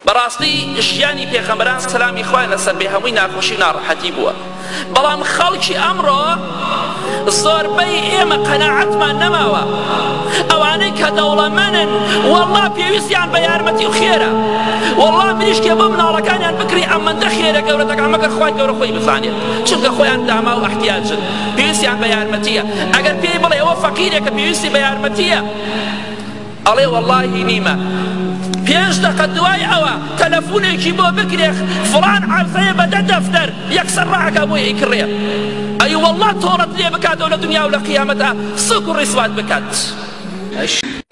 بەڕاستی ژیانی پێخەمبەران سەلامی خوای لەسەر بێ هەمووی ناخۆشی و ناڕەحەتی بووە بەڵام خەڵکی ئەمڕۆ زۆربەی ئێمە قەناعەتمان نەماوە ئەوانەی کە دەوڵەمەنن وەڵا پێویستیان بە یارمەتی و خێرە وەڵا مریشکێ بۆ مناڵەکانیان بکری ئەمەندە خێرە گەورە دەکا مەگەر خوای گەورە خۆی بزانێت چونکە خۆیان داما و احتیاجن پێویستیان بە یارمەتیە ئەگەر پێی بڵێ ئەوە فەقیرێکە پێویستی بە یارمەتیە ئەڵێ وەڵاهی نیمە پێنج دەقە دوای ئەوە تەلەفونێکی بۆ بکرێ فڵان عەرزەیە بە دە دەفتەر یەکسەر ڕاکا بۆی ئەیکڕێ ئەی وەڵا تۆڵەت لێ بکاتەوە لە دنیا و لە قیامەتا سوک و ڕیسوات بکات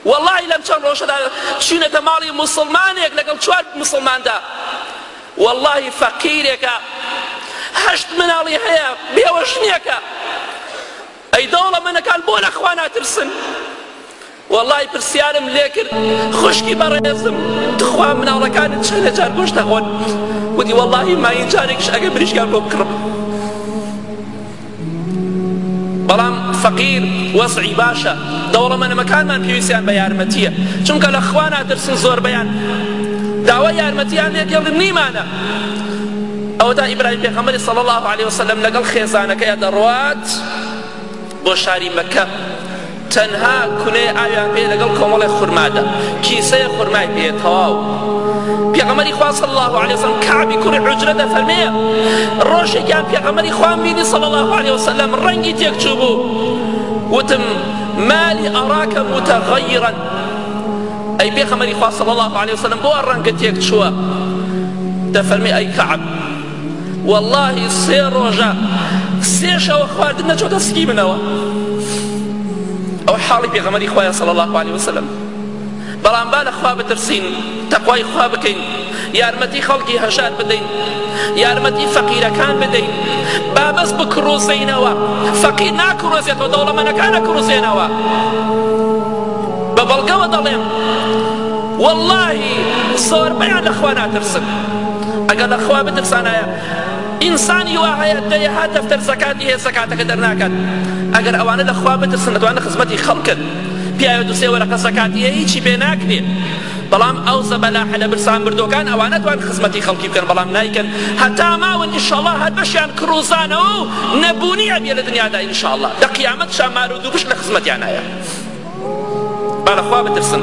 واللهی لەم چەند ڕۆژەدا چوینەتە ماڵی موسڵمانێک لەگەڵ چوار موسڵماندا واللهی فەقیرێکە هەشت مناڵی هەیە بێوەژنیەکە ئەی دەوڵەمەنەکان بۆ لە خوا ناترسن وەڵای پرسیارم لێکرد خوشکی بەڕێزم تخوا مناڵەکانت چەندە جار گۆشت دەخۆن وتی وەڵی ماین جارێکش ئەگە بریشگان بۆ بکڕم بەڵام فەقیر وەزعی باشە دەوڵەمەنەمەکانمان پێویستیان بە یارمەتیە چونکە لە خوا ناترسن زۆربیان داوا یارمەتیان لێ دێڵن نیمانە ئەوەتا ئیبراهیم پێغەمبەری صلی الله عليه وسلم لەگەڵ خێزانەکەی دەڕوات بۆ شاری مەککە تەنها کونەی ئاویان پێ لەگەڵ کۆمەڵێک خورمادا کیسەیە خورمای پێ تەواو پێغەمەری خوا صلی الله علیه وسلم کعبی کوڕی عجرە دەفەرمێ ڕۆژێکیان پێغەمەری خوان بینی صلی الله علیه وسلم ڕەنگی تێک چوو بوو وتم مالی ئەراکە متغیرا ئەی پێغەمەری خوا صلی الله علیه وسلم بۆ ڕەنگە تێک چووە دەفەرمی ئەی کعب وەڵاهی سێ ڕۆژە سێ شەوە خواردن نەچۆتە سکی منەوە ئەو حاڵی پێغەمەری خوایە صلی الله عليه وسلم بەڵام با لە خوا بترسین تەقوای خوا بکەین یارمەتی خەڵکی هەژار بدەین یارمەتی فەقیرەکان بدەین بابەس بکڕوزینەوە فەقیر ناکڕۆزێتەوە دەوڵەمەنەکانە کڕوزێنەوە بە بەڵگەوە دەڵێم وەڵاهی زۆربەیان لە خوا ناترسن ئەگەر لە خوا بترسانایە ئینسانی وا هەیە دەیەها دەفتەر زەکاتی هەیە زەکاتەکە دەرناکات ئەگەر ئەوانە لە خوا بترسن ئەتوانە خزمەتی خەڵکن پیاوە دو سێ وەرەقە زەکاتی هەیە هیچی پێ ناکرێ بەڵام ئەو زەبەلاحە لە برسان بردوەکان ئەوانە توان خزمەتی خەڵکی بکەن بەڵام نایکەن هەتا ماون ئینشاڵڵا هەر بەشیان کڕوزانەوە و نەبوونی ئەبێ لە دنیادا ئینشاڵڵا لە قیامەت شا مار و دووپشک لە خزمەتیانایە با لە خوا بترسن